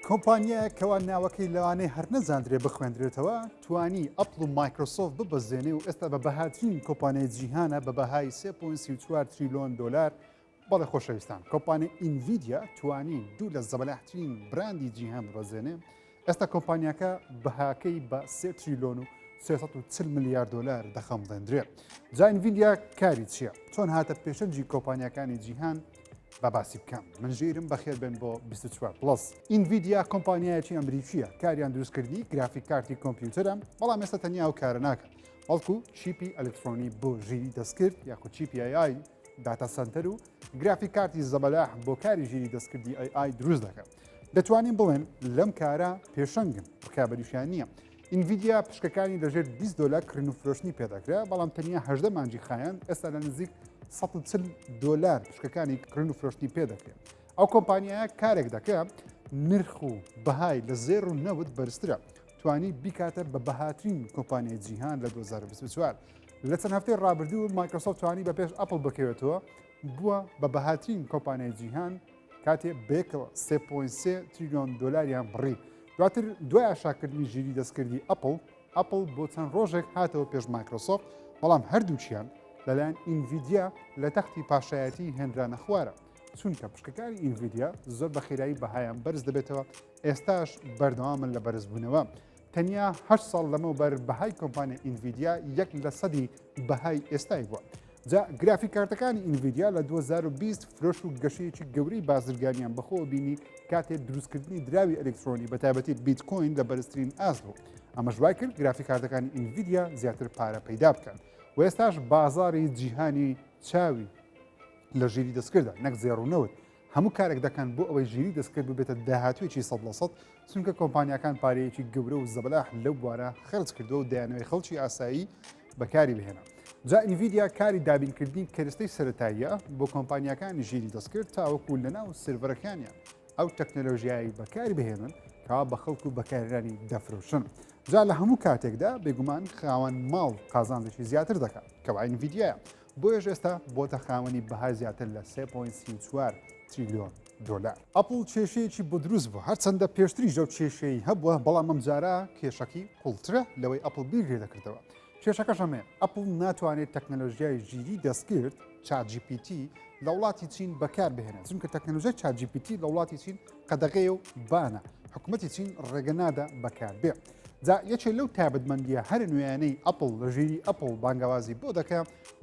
کۆمپانیایەک کەوا ناوەکەی لەوانەیە هەر نەزاندرێ بخوێندرێتەوە توانی ئەپڵ و مایکرۆسۆف ببەزێنێ و ئێستا بە بەهاترین کۆمپانیای جیهانە بە بەهای 3.4 تریلۆن دۆلار بەڵێ خۆشەویستان کۆمپانی ئینڤیدیا توانی دوو لە زەبەلاحترین براندی جیهان ببەزێنێ ئێستا کۆمپانیاکە بەهاکەی بە سێ تریلۆن و 340 میلیارد دلار دەخەمڵێندرێ جاین ویدیا کاری چییە چۆن هاتە پێشەنجی کۆمپانیەکانی جیهان با باسی بکەم من ژیرم بەخێر بن بۆ 24 پلس ئینڤیدیا کۆمپانیایەکی ئەمریکیە کاریان دروستکردنی گرافیک کارتی کۆمپیوتەرم بەڵام ئێستا تەنیا و کارە ناکە بەڵکو چیپی ئەلکترۆنی بۆ ژیری دەستکرد یاخود چیپی ئەیای داتا سنتەر و گرافی کارتی زەبەلاح بۆ کاری ژیری دەستکردی ئەی ئای دروست دەکەم دەتوانین بڵێن لەم کارە پێشەنگن ڕکابەریشیان نییە ئینڤیدیا پشکەکانی لەژێر 20 دلار کرین و فرۆشتنی پێدەکرێ بەڵام تەنیا هەدە مانجی خایەن ئێستا لە نزیک 140 دلار پشکەکانی کرین و فرۆشتنی پێدەکرێت ئەو کۆمپانیایە کارێک دەکرێت نرخ و بەهای لە زێر و نەوت بەرزترە توانی بیکاتە بە بەهاترین کۆمپانیای جیهان لە 2024 لە چەند هەفتەی ڕابردوو مایکرۆسۆفت توانی بە پێش ئەپل بکەوێتەوە بووە بە بەهاترین کۆمپانیای جیهان کاتێ بێکڵ 3.3 تریلیۆن دلاریان بڕی دواتر دوای ئاشاکردنی ژیری دەستکردی ئەپل ئەپل بۆ چەند ڕۆژێک هاتەوە پێش مایکرۆسۆفت بەڵام هەردووچیان لەلایەن ئینڤیدیا لە تەختی پاشایەتی هێنرانە خوارە چونکە پشکەکانی ئینڤیدیا زۆر بە خێرایی بەهایان بەرز دەبێتەوە ئێستاش بەردەوامن لە بەرزبوونەوە تەنیا هەشت ساڵ لەمەوبەر بەهای کۆمپانیا ئینڤیدیا یەک لە سەدی بەهای ئێستای بووە. جا گرافی کارتەکانی ئینڤیدیا لە 2020 فرۆش و گەشەیەکی گەورەی بازرگانیان بەخۆوە بینی کاتێ دروستکردنی دراوی ئەلکترۆنی بە تایبەتی بیتکۆین لە بەرزترین ئاست بوو ئەمەش وای کرد گرافی کارتەکانی ئینڤیدیا زیاتر پارە پەیدا بکەن و ئێستاش بازاری جیهانی چاوی لە ژیری دەستکردە نەک زێڕونەوت هەموو کارێک دەکەن بۆ ئەوەی ژیری دەستکرد ببێتە داهاتوێکی سەد لە سەد چونکە کۆمپانیاکان پارەیەکی گەورە و زەبەلاح لەو بوارە خەرج کردو و دەیانەوەی خەڵکی ئاسایی بەکاری بهێنە جا ئینڤیدیا کاری دابینکردنی کەرستەی سەتاییە بۆ کۆمپانیاکانی ژیری دەستکرد تاوەکو لەناو سرڤەرەکانیان ئەو تەکنەلۆژیایی بەکاری بهێنن کا بە خەڵک و بەکارانی دەفرۆشن جا لە هەموو کاتێکدا بێگومان خاوەن ماڵ قازانێکی زیاتر دەکات کەواین ڤیددیە بۆیەش ئێستا بۆتە خاوەنی بەهای زیاتر لە سێ پۆینت سی و چوار تریلیۆن دۆلار. ئەپڵ کێشەیەکی بۆ دروست بووە، هەرچەندە پێشتریش ئەو کێشەی هەبووە، بەڵام ئەمجارە کێشەکی قوڵترە لەوەی ئەپڵ بیر لێ دەکردەوە. کێشەکەش ئەمەیە، ئەپڵ ناتوانێت تەکنەلۆژیای ژیری دەستکرد، چات جی پی تی، لە وڵاتی چین بەکار بهێنێت، چونکە تەکنەلۆژیای چات جی پی تی لە وڵاتی چین قەدەغەیە و بانە، حکومەتی چین ڕێگە نادا بەکار بێت. جا یەکێ لەو تابەتمەندیە هەرە نوێیانەی ئەپل لە ژیری ئەپل بانگەوازی بۆ دەکە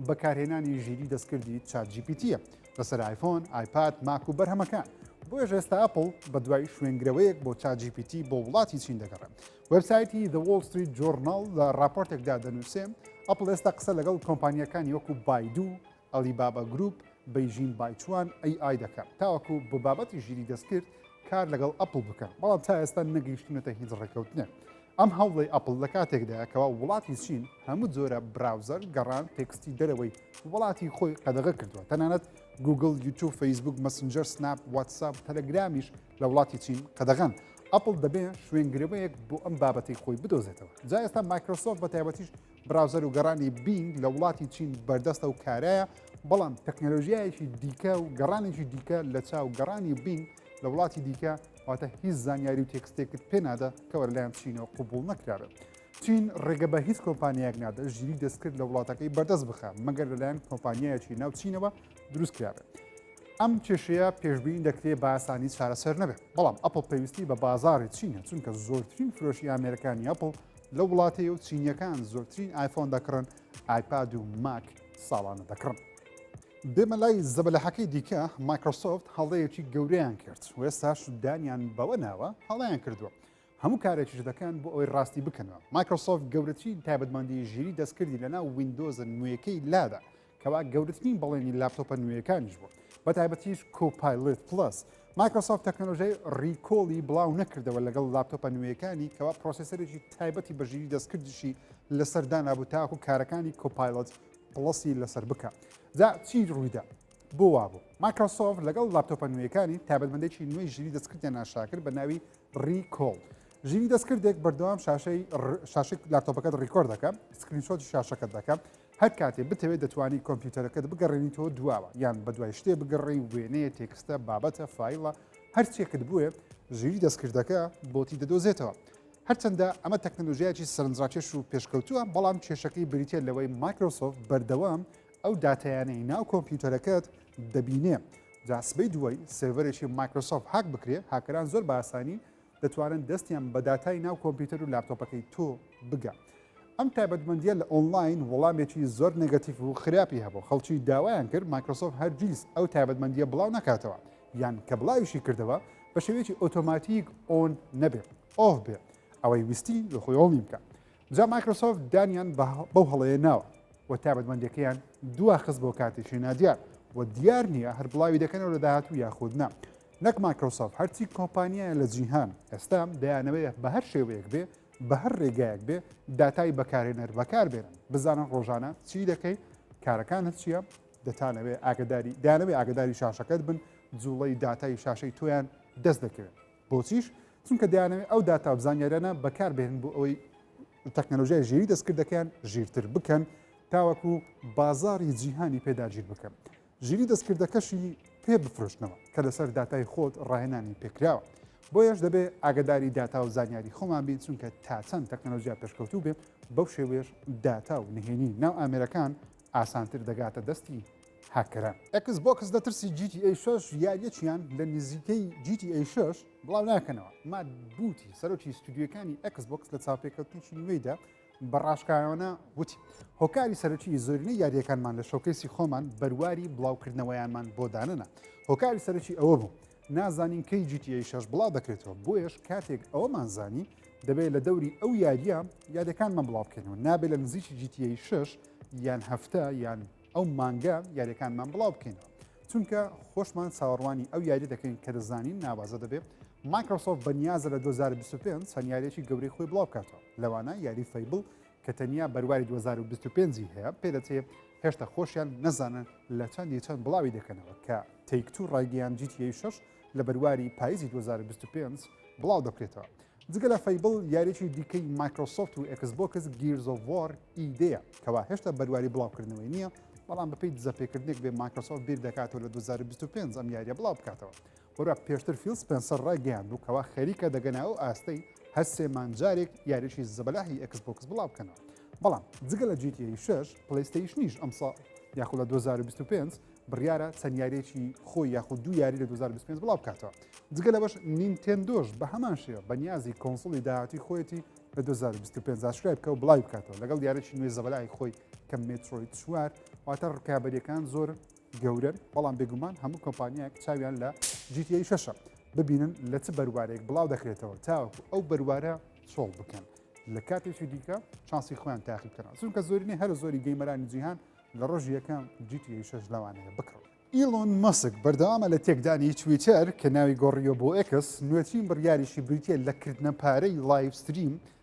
بەکارهێنانی ژیری دەستکردی چاجیپیتە لەسەر آیفۆن آیپاد ماک و بەرهەمەکان بۆیە ژێستا ئەپل بە دوای شوێنگرەوەیەک بۆ چاجیپیتی بۆ وڵاتی چین دەگەڕێن وبسایتی The Wall Street Journal لە راپۆرتێکدا دەنووسێن ئەپل ئێستا قسە لەگەڵ کۆمپانیەکانی وەکو بایدو Alibaba Group، بەیژین بایچوان، AI دەکەن تاوەکو بۆ بابەتی ژیری دەستکرد کار لەگەڵ ئەپڵ بکەن، بەڵام تا ئێستا نەگەیشتوونەتە هیچ ڕێککەوتنێک. ئەم هەوڵەی ئەپڵ لە کاتێکدایە کەوا وڵاتی چین هەموو جۆرە براوزەر، گەڕان، تێکستی دەرەوەی وڵاتی خۆی قەدەغە کردووە، تەنانەت گووگڵ، یوتیوب، فەیسبووک، مەسنجەر، سناپ، واتساپ و تەلەگرامیش لە وڵاتی چین قەدەغەن. ئەپڵ دەبێ شوێنگرەوەیەک بۆ ئەم بابەتەی خۆی بدۆزێتەوە. جا ئێستا مایکرۆسۆفت بە تایبەتیش براوزەر و گەڕانی بینگ لە وڵاتی چین بەردەستە و کارایە بەڵام تەکنەلۆژیایەکی دیکە و گەڕانێکی دیکە لە چاو گەڕانی بینگ لە وڵاتی دیکە واتە هیچ زانیاری و تێکستێکت پێنادە کەەوە لەلایەن چینەوە قوبول نەکرابێت. چین ڕێگە بە هیچ کۆمپانیایەک نادە ژیری دەستکرد لە وڵاتەکەی بەردەست بخە مەگەر لەلایەن کۆمپانیایەکی ناو چینەوە دروست کرابێت. ئەم کێشەیە پێشببین دەکرێت باسانی چارەسەر نەبێت بەڵام ئەپل پێویستی بە بازاری چینە چونکە زۆرترین فرۆشی ئامرەکانی ئەپل لەو وڵاتەیە و چینیەکان زۆرترین ئایفۆن دەکڕن ئایپاد و ماک ساڵانە دەکڕن. بێمە لای زەبەلەحەکەی دیکە مایکرۆسۆفت هەڵەیەکی گەورەیان کرد و ئێستاش دانیان بەوە ناوە هەڵەیان کردووە هەموو کارێکیش دەکەن بۆ ئەوەی ڕاستی بکەنەوە مایکرۆسۆفت گەورەترین تایبەتمەندی ژیری دەستکردی لەناو ویندۆزە نوێیەکەی لادا کەوا گەورەترین بەڵێنی لاپتۆپە نوێیەکانیش بوو بە تایبەتیش کۆپایلت پلس مایکرۆسۆفت تەکنۆلۆژیای ڕیکۆڵی بڵاو نەکردەوە لەگەڵ لاپتۆپە نوێیەکانی کەوا پرۆسیسەرێکی تایبەتی بەژیری دەستکردیشی لەسەر دانابوو تاکو کارەکانی کۆپایلت پڵسی لەسەر بکە جا چی ڕوویدا بۆ وابوو مایکرۆسۆف لەگەڵ لاپتۆپە نوێیەکانی تابەتمەندێکی نوێی ژیری دەستکردیان ناشاکرد بە ناوی ڕیکۆڵ ژیری دەستکردێک بەردەوام شاشەی شاشی لاپتۆپەکەت ڕیکۆر دەکەم سکرینشۆتی شاشەکەت دەکەم هەر کاتێ بتەوێ دەتوانی کۆمپیوتەرەکەت بگەڕێنیتەوە دواوە یان بە دوای شتێ بگەڕێی وێنەیە تێکستە بابەتە فیلە هەرچێکت بوێ ژیری دەستکردەکە بۆتی دەدۆزێتەوە هەرچەندە ئەمە تەکنەلۆژیایکی سەرنجڕاکێش و پێشکەوتووە بەڵام کێشەکەی بریتە لەوەی مایکرۆسۆف بەردەوام ئەو داتایانەی ناو کۆمپیوتەرەکەت دەبینێ جاسبەی دوای سێڤەرێکی مایکرۆسۆف هاک بکرێ هاکەران زۆر باسانی دەتوانن دەستیان بە داتای ناو کۆمپیوتەر و لاپتۆپەکەی تۆ بگا ئەم تایبەتمەندیە لە ئۆنلاین وەڵامێکی زۆر نگەتیف و خراپی هەبوو خەڵکی داوایان کرد مایکرۆسۆف هەرگیز ئەو تایبەتمەندیە بڵاو نکاتەوە یان کە بڵاویشی کردەوە بە شێوەیەکی ئۆتۆماتیک ئۆن نەبێت ئۆف بێت ئەوەی ویستی لە خۆیۆڵی بکە جا مایکرۆسۆفت دانیان بەو هەڵەیە ناوە و تابەتمەندەکەیان دواخست بۆ کاتێکی نادیار و دیار نییە هەر بڵاوی دەکەنەوە لە داهات و یاخود نا نەک مایکرۆسۆف هەرچی کۆمپانیایە لە جیهان ئێستا دەیانەوەیە بە هەر شێوەیەک بێ بە هەر ڕێگایەک بێ داتای بەکارێنەر بەکار بێنن بزانن ڕۆژانە چی دەکەی کارەکانت چییە دەتانەوێ ئاگداری دانەوێ ئاگداری شاشەکەت بن جوڵەی داتای شاشەی تۆیان دەست دەکەوێت بۆچیش؟ چونکە دەیانەوێت ئەو داتا و زانیاریانە بەکاربهێنن بۆ ئەوەی تەکنەلۆژیای ژیری دەستکردەکەیان ژیرتر بکەن تاوەکو بازاری جیهانی پێداگیر بکەن ژیری دەستکردەکەشی پێ بفرۆشتنەوە کە لەسەر داتای خۆت ڕاهێنانی پێکراوە بۆیەش دەبێت ئاگداری داتا و زانیاری خۆمان بین چونکە تا چەند تەکنەلۆژیا پێشکەوتوو بێت بەو شێوێش داتا و نهێنی ناو ئامێرەکان ئاسانتر دەگاتە دەستی هاککەران. ئێکس بۆکس لە ترسی جی تی ئەی شەش یاریەکیان لە نزیکەی جی تی ئەی شەش بڵاو ناکەنەوە. مات بوتی سەرۆکی ستودیۆکانی ئێکس بۆکس لە چاوپێکەوتنێکی نوێیدا بە ڕاشکاوانە وتی هۆکاری سەرەکی زۆرینەی یاریەکانمان لە شۆکەیسی خۆمان بەرواری بڵاوکردنەوەیانمان بۆ دانەنا هۆکاری سەرەکی ئەوە بوو نازانین کەی جی تی ئەی شەش بڵاو دەکرێتەوە بۆیەش کاتێک ئەوەمان زانی دەبێت لە دەوری ئەو یاریە یادەکانمان بڵاو بکەینەوە نابێت لە نزیکی جی تی ئەی شەش یان هەفتە یان ئەو مانگە یاریەکانمان بڵاو بکەینەوە چونکە خۆشمان چاوەڕوانی ئەو یاری دەکەین کە دەزانین ناوازە دەبێت مایکرۆسۆف بەنیازە لە 2025 چەند یاریێکی گەورەی خۆی بڵاو بکاتەوە لەوانە یاری فەیبل کە تەنیا بەرواری 2025 ی هەیە پێدەچێ هێشتا خۆشیان نەزانن لە چەندی چەند بڵاوی دەکەنەوە کە تەیکتو ڕایگەیان جیتیی شش لە بەرواری پاییزی 2025 بڵاو دەکرێتەوە جگە لە فەیبڵ یاریی دیکەی مایکرۆسۆفت و ئەکسبۆکس گیرزۆڤۆر ئیدەیە کەوا هێشتا بەرواری بڵاوکردنەوەی نییە بەڵام بەپی دزەپێکردنێک بێ مایکرۆسۆفت بیر دەکاتەوە لە 2025 ئەم یاریە بڵاو بکاتەوە وەرە پێشتر فیل سپێنسەر ڕایگەیاندبوو کەوا خەریکە دەگەنە ئەو ئاستەی هەر سێ مانگ جارێک یاریی زەبەلاحی ئێکس بۆکس بڵاو بکەنەوە بەڵام جگە لە جیتی شش پلەیستەیشنیش ئەمساڵ یاخۆ لە 2025 بڕیارە چەند یاریێکی خۆی یاخود دوو یاری لە 2025 بڵاو بکاتەوە جگە لەوەش نینتێندۆش بە هەمان شێوە بە نیازی کۆنسڵی داهاتی خۆیەتی لە 2025 زاشکای بکە و بڵاوی بکاتەوە لەگەڵ یاریی نوێ زەبەلای خۆی کە مێترۆی چوار واتە ڕکابەریەکان زۆر گەورەن بەڵام بێگومان هەموو کۆمپانیایەک چاویان لە جیتیی شەشە ببینن لە چ بەروارێک بڵاو دەکرێتەوە تاوەکو ئەو بەروارە چۆڵ بکەن لە کاتێکی دیکە چانسی خۆیان تاقی بکەن چونکە زۆرینەی هەر زۆری گەیمەرانی جیهان لە ڕۆژ یەکەم جیتیی شەش لەوانەیە بکڕن ئیلۆن مەسک بەردەوامە لە تێکدانی تویتەر کە ناوی گۆڕیۆ بۆ ئەکس نوێترین بڕیاریشی بریتە لە کردنە پارەی لایڤستریم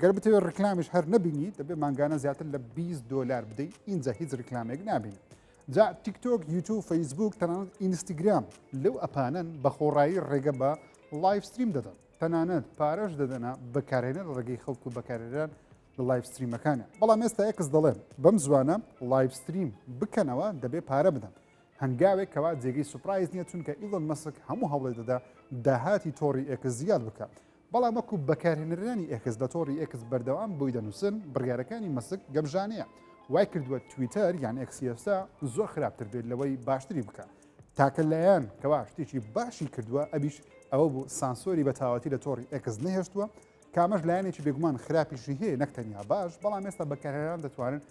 گەر بتەوێت ڕیکلامیش هەر نەبینی دەبێت مانگانە زیاتر لە 20 دلار بدەی ئینجا هیچ ڕیکلامێک نابین جا تیکتۆک یوتوب فەیسبوک تەنانەت ئینستاگرام لەو ئەپانەن بە خۆڕایی ڕێگە بە لایفستریم دەدەن تەنانەت پارەش دەدەنا بەکارێنە لە ڕێگەی خەڵک و بەکارێران لە لایفستریمەکانە بەڵام ئێستا ئەکس دەڵێن بەم زوانە لایفستریم بکەنەوە دەبێت پارە بدەن هەنگاوێک کەوا جێگەی سوپایز نیە چونکە ئیلۆن مەسک هەموو هەوڵێ دەدا داهاتی تۆڕی ئێکس زیاد بکە بەڵام وەکو بەکارهێنەرانی ئێکس لە تۆڕی ئێکس بەردەوام بۆی دەنووسن، بڕیارەکانی مەسک گەمژانەیە، وای کردووە تویتەر یان ئێکسی ئێستا زۆر خراپتر بێت لەوەی باشتری بکە. تاکە لایەن کەوا شتێکی باشی کردووە ئەویش ئەوە بوو سانسۆری بە تاواتی لە تۆڕی ئێکس نەهێشتووە، کامەش لایەنێکی بێگومان خراپیشی هەیە نەک تەنیا باش، بەڵام ئێستا بەکارهێنەران دەتوانن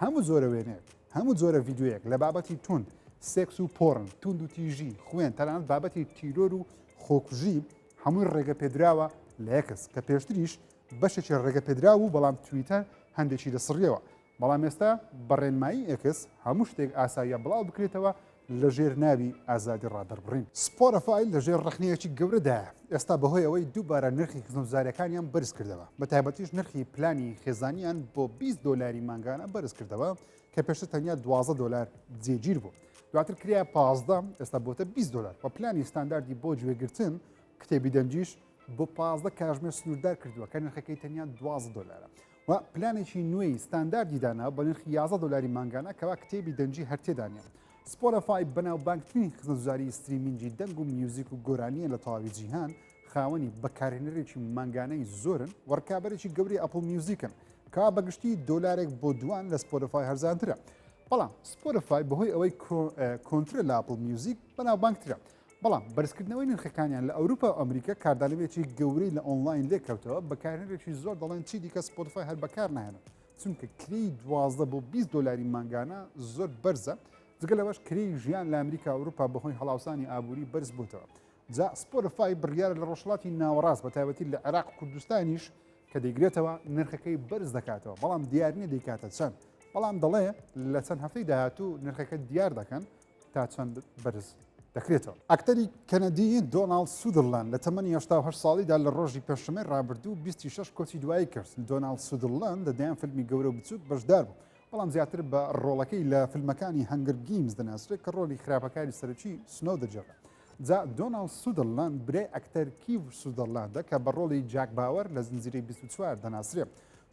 هەموو جۆرە وێنەیەک، هەموو جۆرە ڤیدیۆیەک لە بابەتی توند، سێکس و پۆڕن، توندوتیژی، خوێن، تەنانەت بابەتی تیرۆر و خۆکوژی، هەمووی ڕێگەپێدراوە لە یەکس کە پێشتریش بەشێکی ڕێگەپێدرا و بەڵام تویتە هەندێکی دەسڕیەوە بەڵام ئێستا بەڕێنمایی ئەکس هەموو شتێک ئاساییە بڵاو بکرێتەوە لە ژێر ناوی ئازادی ڕادەربڕین سپۆرەفایل لە ژێر ڕخنەیەکی گەورەدا ئێستا بەهۆی ئەوەی دووبارە نرخی خزمزارەکانیان بەرز کردەوە بە تایبەتیش نرخی پلانی خێزانیان بۆ 20 دۆلاری مانگانە بەرز کردەوە کە پێشتر تەنیا دوازە دلار جێگیر بوو دواتر کریا پازدە ئێستا بۆتە 20 دلار و پلانی ستانداردی بۆ گوێگرتن کتێبی دەنجیش بۆ پازدە کاژمێر سنووردار کردووە کە نرخەکەی تەنیا دوازە دلارە و پلانێکی نوێی ستانداردی دانا بە نرخ 11 دلاری مانگانە کەوا کتێبی دەنجی هەرتێدانە سپۆرەفای بەناوبانگترین خزمەتزاری ستریمینجی دەنگ و میوزیک و گۆرانیە لە تەواوی جیهان خاوەنی بەکارهێنەرێکی مانگانەی زۆرن و ڕکابەرێکی گەوری ئەپل میوزیکن کا بەگشتی دۆلارێک بۆ دوان لە سپۆرفای هەرزانترە بەڵام سپۆرفای بەهۆی ئەوەی کۆنترە لە ئەپل میوزیک بەناوبانگترە بەڵام بەرزکردنەوەی نرخەکانیان لە ئەوروپا و ئەمریکا کاردانەوێکی گەورەی لە ئۆنلاین لێکەوتەوە بەکارهێنێکی زۆر دەڵێن چی دیکە سپۆتفای هەر بەکار نایەنە چونکە کری دوازدە بۆ 20 دلاری مانگانە زۆر بەرزە جگە لەوەش کری ژیان لە ئەمریکا ئەوروپا بەهۆی هەڵاوسانی ئابووری بەرز بووتەوە جا سپۆرفای بڕیارە لە ڕۆژهەڵاتی ناوەڕاست بە تایبەتی لە عێراق و کوردستانیش کە دەیگرێتەوە نرخەکەی بەرز دەکاتەوە بەڵام دیارنیە دەیکاتە چەند بەڵام دەڵێ لە چەند هەفتەی داهاتوو نرخەکە دیار دەکەن تا چەند بەرز دەکرێتەوە ئەکتەری کەنەدی دۆناڵ سودرلان لە تەمەنی هه ساڵیدا لە ڕۆژی پێشمەی ڕابردوو 26 کۆچی دوایی کرد دۆناڵ سودرلان لە دەیان فیلمی گەورە بچووک بەشدار بوو بەڵام زیاتر بە ڕۆڵەکەی لە فیلمەکانی هەنگر گیمز دەناسرێت کە ڕۆلی خراپەکاری سەرکی سنەو دەجێڕێت جا دۆناڵد سودەرلاند برای ئەکتەر کیڤ سودەرلاندە کە بە ڕۆڵی جاک باوەر لە زنجیرەی 24 دەناسرێ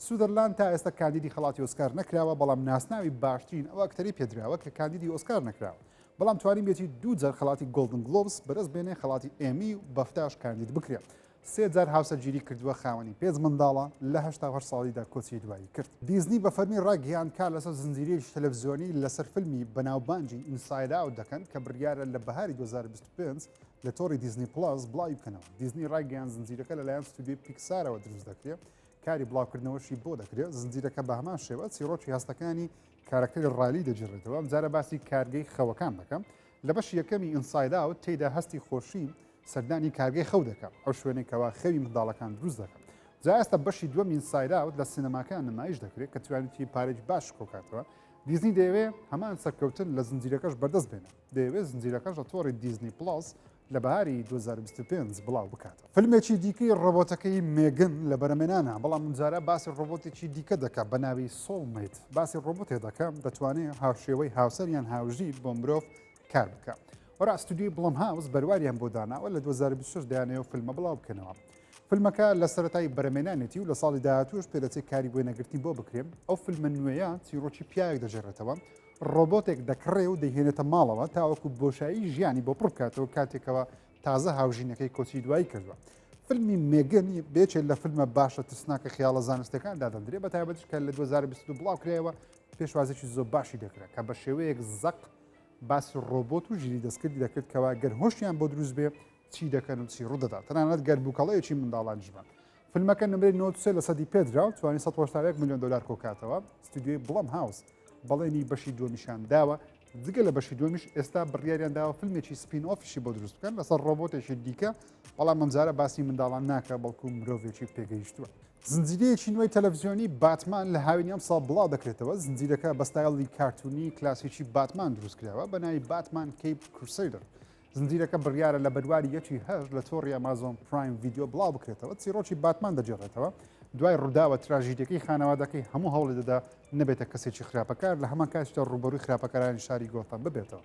سودەرلاند تا ئێستا کاندیدی خەڵاتی ئۆسکار نەکراوە بەڵام ناسناوی باشترین ئەو ئەکتەری پێدراوە کە کاندیدی ئۆسکار نەکراوە بەڵام توانی بێتی دوو جار خەڵاتی گۆڵدن گلۆبس بەرز بێنێ خەڵاتی ئێمی و بەفتاش کاندید بکرێت سێ جار هاوسەرگیری کردووە، خاوەنی پێنج منداڵە، لە هەشتا و هەشت ساڵیدا کۆچی دوایی کرد. دیزنی بە فەرمی ڕایگهیاند کار لەسەر زنجیرەیەکی تەلەفزیۆنی لەسەر فیلمی بەناوبانگی ئینساید ئاوت دەکەن کە بڕیارە لە بەهاری دوو هەزار و بیست و پێنج لە تۆڕی دیزنی پڵەس بڵاوی بکەنەوە. دیزنی ڕایگەیاند زنجیرەکە لەلایەن ستۆدیۆی پیکسارەوە دروست دەکرێت، کاری بڵاوکردنەوەشی بۆ دەکرێت، زنجیرەکە بە هەمان شێوە چیڕۆکی هەستەکانی کارەکتەری ڕایلی دەگێڕێتەوە، ئەمجارە باسی کارگەی خەوەکان دەکەن، لە بەشی یەکەمی ئینساید ئاوت تێیدا هەستی خۆشی سەردانی کارگەی خەو دەکا ئەو شوێنەی کەوا خەوی منداڵەکان دروست دەکا جا ئێستا بەشی دووەم ئینسایراوت لە سینەماکان نمایش دەکرێت کە توانیتی پارێک باش کۆکاتەوە دیزنی دەیەوێ هەمان سەرکەوتن لە زنجیرەکەش بەردەست بێنە دەیەوێت زنجیرەکەش لە تۆڕی دیزنی پڵاس لە بەهاری 2025 بڵاو بکاتەوە فیلمێکی دیکەی ڕۆبۆتەکەی مێگن لە بەرەمێنانە بەڵام منجارە باسی ڕۆبۆتێکی دیکە دەکە بە ناوی سۆڵمیت باسی ڕۆبۆتێ دەکەم دەتوانێت هاوشێوەی هاوسەر یان هاوژیر بۆ مرۆڤ کار بکە وەرا ئەستودیوی بڵم هاوس بەرواریان بۆ داناوە لە 2026 دایانەوە فیلمە بڵاو بکەنەوە فیلمەکە لە سەرەتای بەرەمێنانێتی و لە ساڵی داهاتوش پێدەچێت کاری بۆی نەگرتنی بۆ بکرێن ئەو فیلمە نوێیە چیرۆکی پیاوێک دەژێڕێتەوە ڕۆبۆتێک دەکڕێ و دەهێنێتە ماڵەوە تاوەکو بۆشایی ژیانی بۆ پڕکاتەوە کاتێکەوە تازە هاوژینەکەی کۆچی دوایی کردووە فیلمی مێگەنی بێچێت لە فیلمە باشە ترسناکە خیاڵە زانستەکان دادەندرێ بە تایبەتش کە لە 2022 بڵاوکرایەوە پێشوازێکی زۆر باشی دەکرێت کە بە شێوەیەک زەق باسی ڕۆبۆت و ژیری دەستکردی دەکرد کەوا گەر هۆشیان بۆ دروست بێ چی دەکەن و چی ڕوودەدا تەنانەت گەر بووکەڵەیەکی منداڵان ژبان فیلمەکە نمرەی نۆسێ لە سەدی پێدرا و توانی 1970 میلیۆن دلار کۆکاتەوە ستودیوی بڵم هاوس بەڵێنی بەشی دومیشان داوە جگە لە بەشی دومیش ئێستا بڕیاریان داوە فیلمێکی سپین ئۆفیشی بۆ دروست بکەن لەسەر ڕۆبۆتێکی دیکە بەڵام ئەمجارە باسی منداڵان ناکە بەڵکو مرۆڤێکی پێگەیشتووە زنجیرەیەکی نوێی تەلەڤزیۆنی باتمان لە هاوینی ئەمساڵ بڵاو دەکرێتەوە زنجیرەکە بە ستایڵی کارتونی کلاسیکی باتمان دروستکراوە بە ناوی باتمان کەیپ کورسەیدر زنجیرەکە بڕیارە لە بەرواری یەکی هەر لە تۆڕی ئەمازۆن پرایم ڤیددیو بڵاو بکرێتەوە چیرۆکی باتمان دەجێڕێتەوە دوای ڕووداوە تراژیدەکەی خانەوادەکەی هەموو هەوڵی دەدا نەبێتە کەسێکی خراپەکار لە هەمان کاتیشدا ڕوبەروی خراپەکارانی شاری گۆتەم ببێتەوە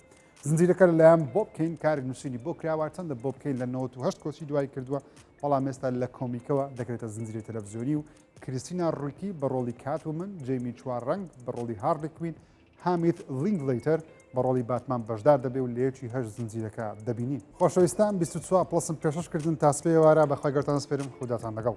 زنجیرەکە لەلایەن بۆب کەین کارێک نووسینی بۆ کراوە چەندە بۆب کەین لە 98 کۆچی دوای کردووە بەڵام ئێستا لە کۆمیکەوە دەکرێتە زنجیری تەلەڤزیۆنی و کریسینا ڕویتی بە ڕۆڵی کات و من جەیمی چوار ڕنگ بە ڕۆڵی هاڕلی کوین هامیت لینگ لیتەر بە ڕۆڵی باتمان بەشدار دەبێ و لەیەکی هەر زنجیرەکە دەبینی خۆشەویستان 24 پلسم پێشش کردن تاسپێوارە بەخوای گەرتان سپێرم خوداتان لەگەڵ.